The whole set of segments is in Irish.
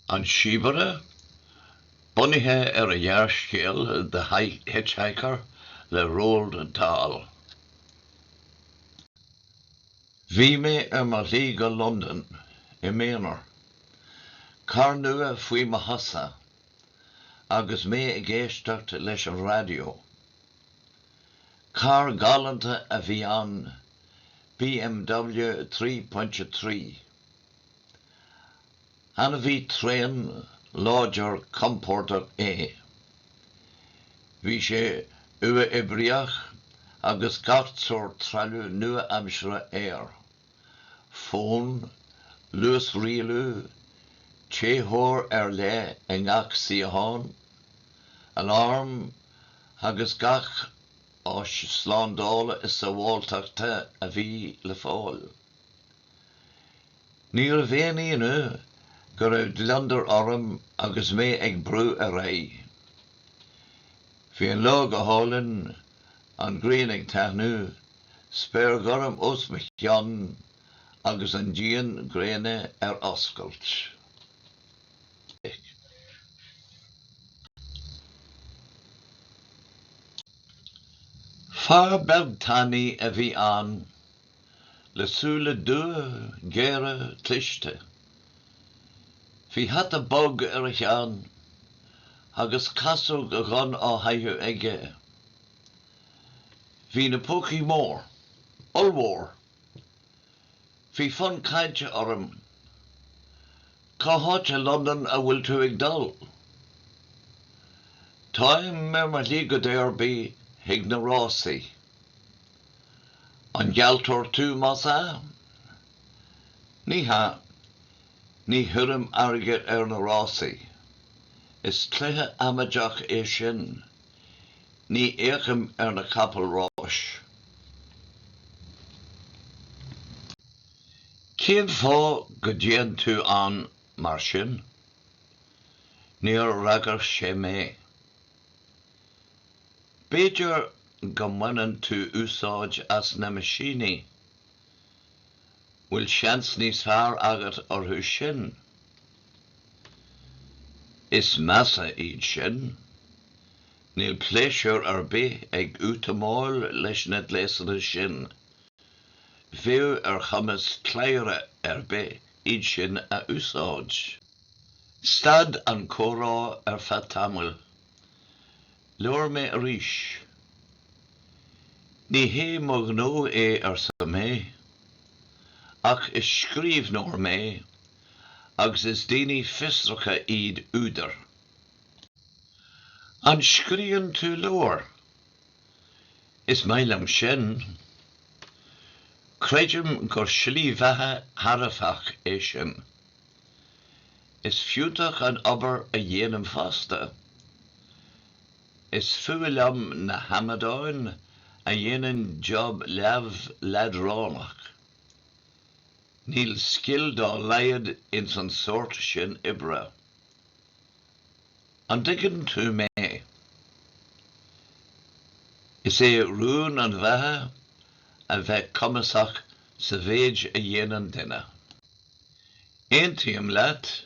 An Síobaire, bunaithe ar an ghearrscéal The Hitchhiker le Roald Dahl. Bhí mé ar mo shlí go Londain i m'aonar, carr nua faoi mo chosa agus mé ag éisteacht leis an raidió. Carr galánta a bhí ann, BMW 3.3. Ainmhí tréan, láidir, compordach é. Bhí sé uathoibríoch agus gach sórt trealamh nua-aimseartha air, fón, luasrialú, téitheoir ar leith i ngach suíochán, aláram agus gach áis slándála is sabháilteachta a bhí le fáil. Níorbh aon ionadh go raibh gliondar orm agus mé ag brú ar aghaidh. Bhí an lá go hálainn, an ghrian ag taithniú, spéir ghorm os mo chionn agus an díon gréine ar oscailt. Fear beag tanaí a bhí ann. le súile dubha, géara, cliste. Bhí hata bog ar a cheann agus casóg dhonn á chaitheamh aige. Bhí na pócaí mór, ollmhór. Bhí fonn cainte orm, Cá háit i Londain a bhfuil tú ag dul? Táim ar mo shlí go Derby chuig na rásaí. An gealltóir tú más ea? Ní hea. Ní chuirim airgead ar na rásaí. Is cluiche amaideach é sin. Ní fhéachaim ar na capaill ráis. Cén fáth go dtéann tú ann mar sin? Níor fhreagair sé mé. B'fhéidir go mbaineann tú úsáid as na meaisíní? Bhfuil seans níos fearr agat orthu sin? Is measa iad sin. Níl pléisiúr ar bith ag útamáil leis na gléasanna sin. Bheadh ar chumas cladhaire ar bith iad sin a úsáid. Stad an comhrá ar feadh tamaill. Labhair mé arís. Ní hé mo ghnó é arsa mé. Ach is scríobhnóir mé agus is daoine fiosracha iad údair. An scríobhann tú leabhair? Is maith liom sin. Creidim gur slí bheatha thairbheach é sin. Is fiúntach an obair a dhéanaimse fosta. Is fuath liom na hamadáin a dhéanann job leamh leadránach. Níl scil dá laghad ins an sórt sin oibre. An dtuigeann tú mé? Is é rún an bheatha a bheith cumasach sa mhéid a dhéanann duine. Aontaím leat,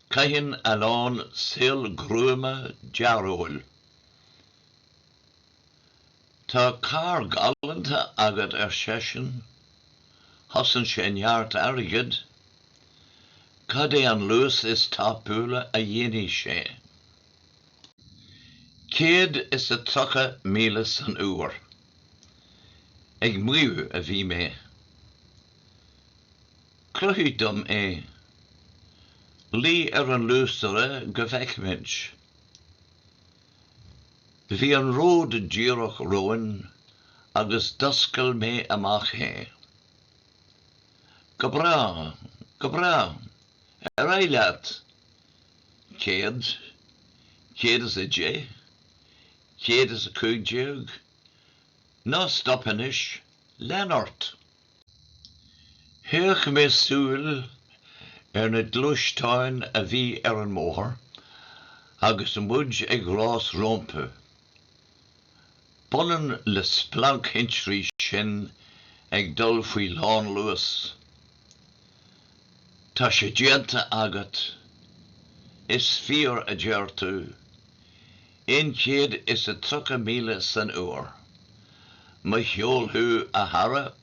caitheann a lán saol gruama dearóil. Tá carr galanta agat ar seisean. Chosain sé neart airgid. Cad é an luas is tapúla a dhéanfadh sé. Céad is a tríocha míle san uair. Ag maíomh a bhí mé. Cruthaigh dom é. Luigh ar an luasaire go bhfeicfimid. Bhí an ród díreach romhainn agus d'oscail mé amach é. Go breá, go breá, ar aghaidh leat! Céad, céad is a deich, céad is a cúig déag, ná stop anois, lean ort! Chaoch mé súil ar na gluaisteáin a bhí ar an mbóthar agus muid ag rás rompu. B'ionann le splanc thintrí sinn ag dul faoi lánluas. Tá sé déanta agat, is fíor a deir tú. aon chéad is a tríocha míle san uair. Mo cheol thú, a chara!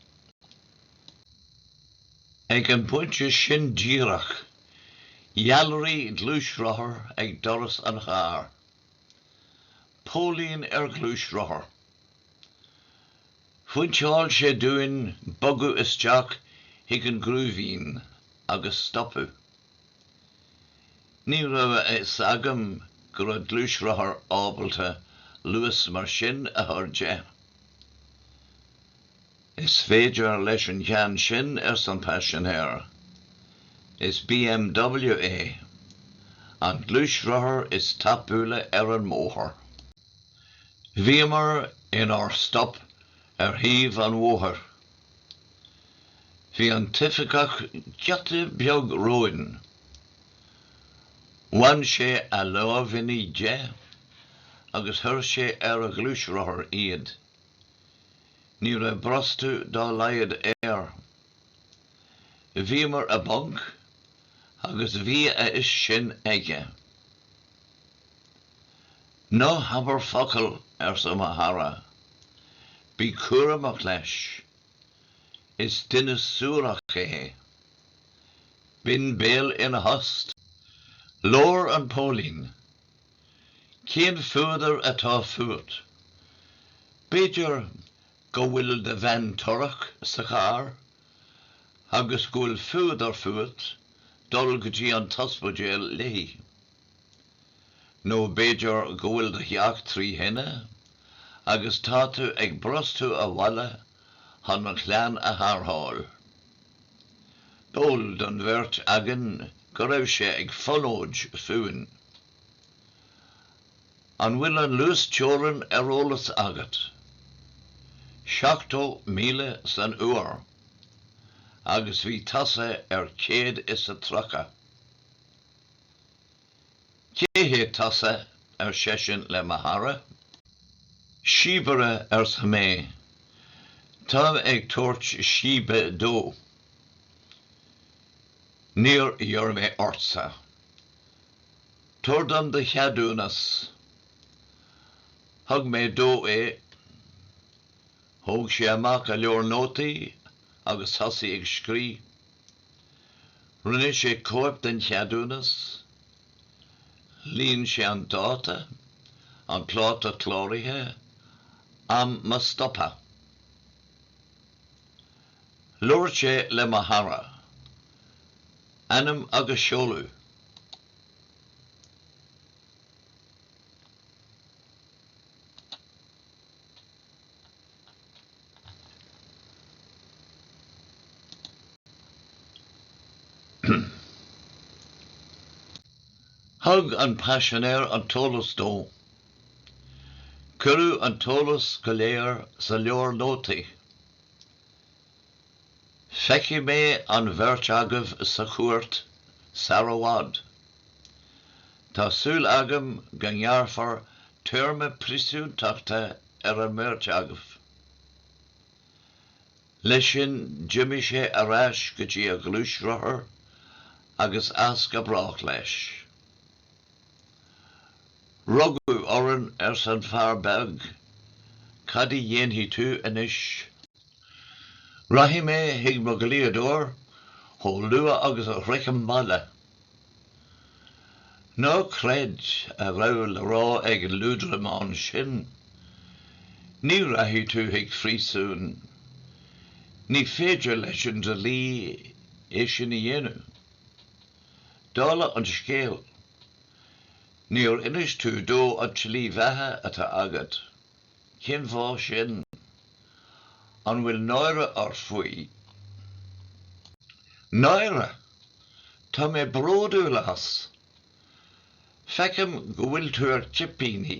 Ag an bpointe sin díreach, ghealraigh gluaisrothar ag doras an chairr. Póilín ar ghluaisrothar. Phointeáil sé dúinn bogadh isteach chuig an ngruaimhín agus stopadh. Ní raibh a fhios agam go raibh gluaisrothar ábalta luas mar sin a chur de. Is féidir leis an gceann sin arsa an paisinéir. Is BMW é an gluaisrothar is tapúla ar an mbóthar. Bhíomar inár stop ar thaobh an bhóthair Bhí an t-oifigeach giota beag romhainn. Bhain sé a lámhainní de agus chuir sé ar a ghluaisrothar iad. Ní raibh brostú dá laghad air. Bhíomar i bponc agus bhí a fhios sin aige. Ná habair focal, arsa mo chara. Bí cúramach leis. Is duine suarach é. Binn béal ina thost. Labhair an póilín. Cén fuadar atá fút? B'fhéidir go bhfuil do bhean torrach sa charr agus go bhfuil fuadar fút dul go dtí an t-ospidéal léi. Nó b'fhéidir go bhfuil do theach trí thine agus tá tú ag brostú abhaile chun an chlann a tharrtháil. B'eol don bheirt againn go raibh sé ag fonóid fúinn. An bhfuil an luasteorainn ar eolas agat? Seachtó míle san uair. Agus bhí tusa ar céad is a tríocha. Cé hé tusa? ar seisean le mo chara. Síobaire arsa mé. Táim ag tabhairt síbe dó. Níor iarr mé ortsa. Tabhair dom do cheadúnas. Thug mé dó é. Thóg sé amach a leabhar nótaí agus thosaigh ag scríobh. Rinne sé cóip den cheadúnas, líon sé an dáta, an pláta cláraithe, am mo stoptha. Labhair sé le mo chara. Ainm agus seoladh. Thug an paisinéir an t-eolas dó. Cuireadh an t-eolas go léir sa leabhar nótaí. Feicfidh mé an bheirt agaibh sa chúirt sar i bhfad. Tá súil agam go ngearrfar téarma príosúntachta ar an mbeirt agaibh. Leis sin d'imigh sé ar ais go dtí a ghluaisrothar agus as go brách leis. Rugadh orainn arsa an fear beag, cad a dhéanfaidh tú anois Rachaidh mé chuig mo dhlíodóir chomh luath agus a shroichim baile. Ná creid a raibh le rá ag an liúdramán sin. Ní rachaidh tú chuig phríosún. Ní féidir leis an dlí é sin a dhéanamh. Dála an scéil, níor inis tú dó an tslí bheatha atá agat. Cén fáth sin? An bhfuil náire ort faoi? Náire! Tá mé bródúil as! Feicim go bhfuil tú ar chipíní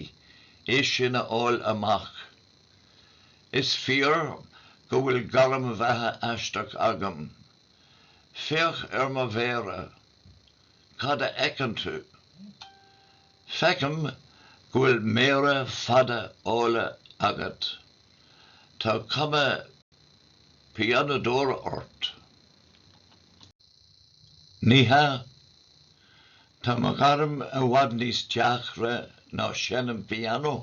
é sin a fháil amach. Is fíor go bhfuil gairm bheatha aisteach agam. Féach ar mo mhéara. Cad a fheiceann tú? Feicim go bhfuil méara fada áille agat. Tá cuma pianadóra ort. Ní hea. Tá mo ghairm i bhfad níos deacra ná seinm piano.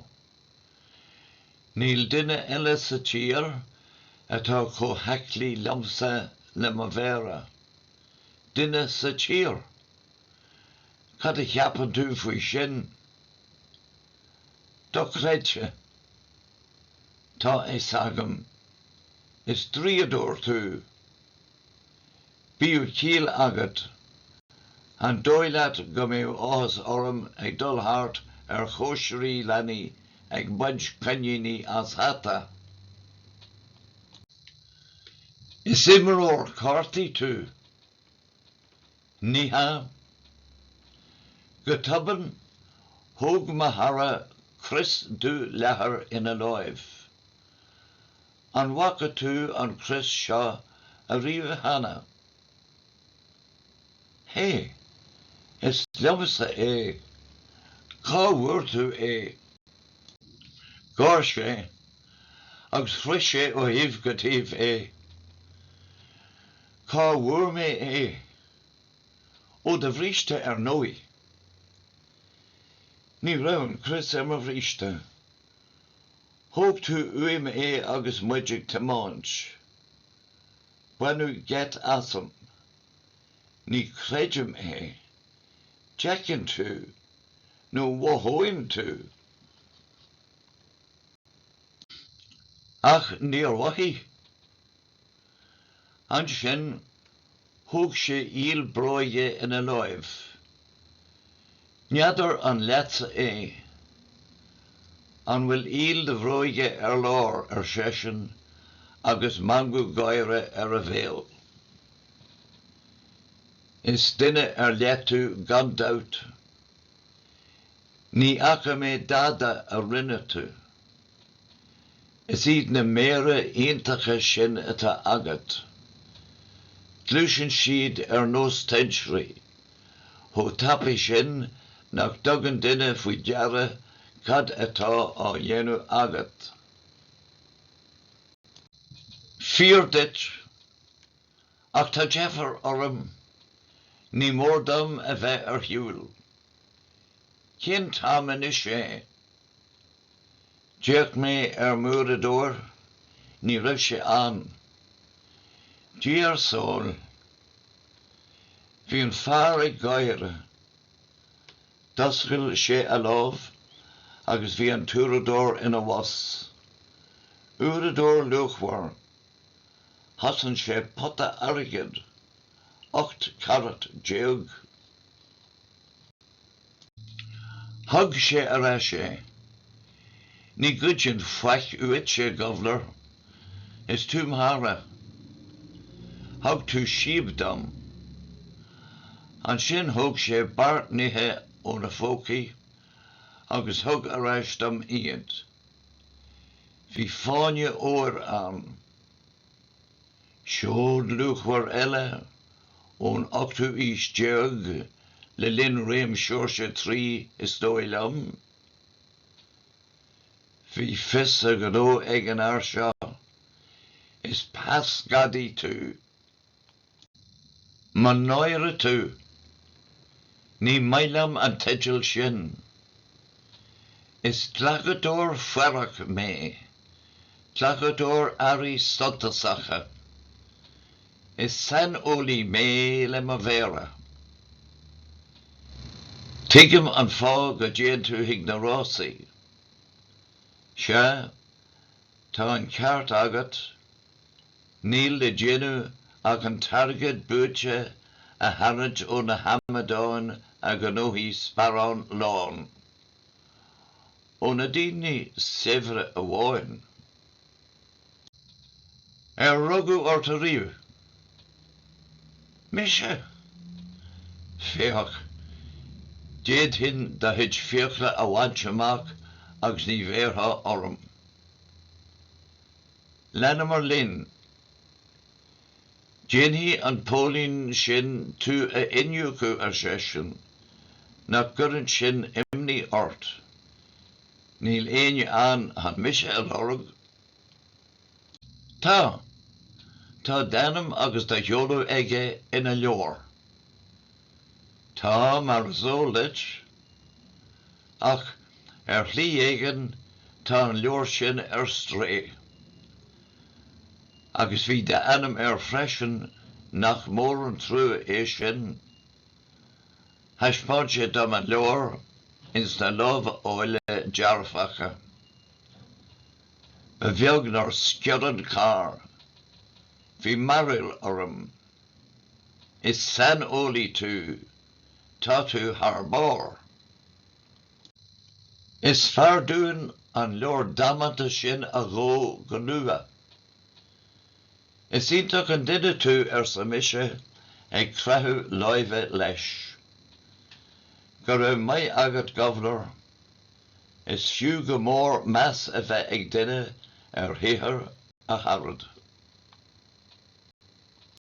Níl duine eile sa tír atá chomh haiclí liomsa le mo mhéara. Duine sa tír! Cad a cheapann tú faoi sin? Dochreidte. Tá fhios agam. Is draíodóir tú. Bíodh ciall agat. An dóigh leat go mbeadh áthas orm ag dul thart ar chóisirí leanaí ag baint coiníní as hata? Is imreoir cártaí tú. Ní hea. Go tobann, thóg mo chara crios dubh leathair ina láimh. An bhfaca tú an crios seo ariamh cheana? Hé! Is liomsa é! Cá bhfuair tú é? Gháir sé, agus chroith sé ó thaobh go taobh é. Cá bhfuair mé é? Ó do bhríste ar ndóigh. Ní raibh an crios ar mo bhríste. Thóg tú uaim é agus muid ag tiomáint. Baineadh geit asam. Ní chreidim é. D'fheicfinn tú nó mhothóinn tú. Ach níor mhothaigh. Ansin thóg sé iall bróige ina láimh. N'fheadar an leatsa é. An bhfuil iall do bhróige ar lár, ar seisean, agus meangadh gáire ar a bhéal. Is duine ar leith tú gan dabht. Ní fhaca mé dada a rinne tú. Is iad na méara iontacha sin atá agat. Gluaiseann siad ar nós tintrí, chomh tapaidh sin nach dtugann duine faoi deara cad atá á dhéanamh agat. Fíor duit. Ach tá deifir orm. Ní mór dom a bheith ar shiúl. Cén t-am anois é? D'fhéach mé ar m'uaireadóir. Ní raibh sé ann. Dia ár sábháil. Bhí an fear ag gáire. D'oscail sé a lámh agus bhí an t-uaireadóir ina bhos. Uaireadóir luachmhar. Chosain sé pota airgid, ocht carat déag. Thug sé ar ais é. Ní ghoidfinn faic uaitse, guv'nor. Is tú mo chara. Thug tú síob dom. Ansin thóg sé beart nithe óna phócaí agus thug ar ais dom iad. Bhí fáinne óir ann. Seod luachmhar eile ón ochtú aois déag le linn réim Seoirse a Trí is dóigh liom. Bhí fios a ghnó ag an fhear seo. Is peasghadaí tú. Mo náire tú! Ní maith liom an teideal sin. Is glacadóir faireach mé, glacadóir earraí suntasacha. Is saineolaí mé le mo mhéara. Tuigim an fáth go dtéann tú chuig na rásaí. Sea, tá an ceart agat. Níl le déanamh ach an t-airgead buaite a tharraint ó na hamadáin a ghnóthaigh sparán lán. Ó na daoine saibhre amháin. Ar rugadh ort ariamh? Mise? Féach, d'fhéadfainn do chuid fiacla a bhaint amach agus ní bhéarfaí orm. Leanamar linn. Déanfaidh an póilín sin tú a iniúcadh ar seisean. Nach gcuireann sin imní ort. Níl éinne ann chun mise a lorg? Tá. Tá d'ainm agus do sheoladh aige ina leabhar. Tá, mar is eol duit. Ach, ar shlí éigin, tá an leabhar sin ar strae. Agus bhí d'ainm air freisin, nach mór an trua é sin? Thaispeáin sé dom an leabhar ins na lámha áille dearfacha. Ba bheag nár sciorr an carr. Bhí mearbhall orm. Is saineolaí tú. Tá tú thar barr. Is fearr dúinn an leabhar damanta sin a dhó go luath. Is iontach an duine tú, arsa mise ag creathadh láimhe leis. Go raibh maith agat, Guv'nor. Is fiú go mór meas a bheith ag duine ar shaothar a charad.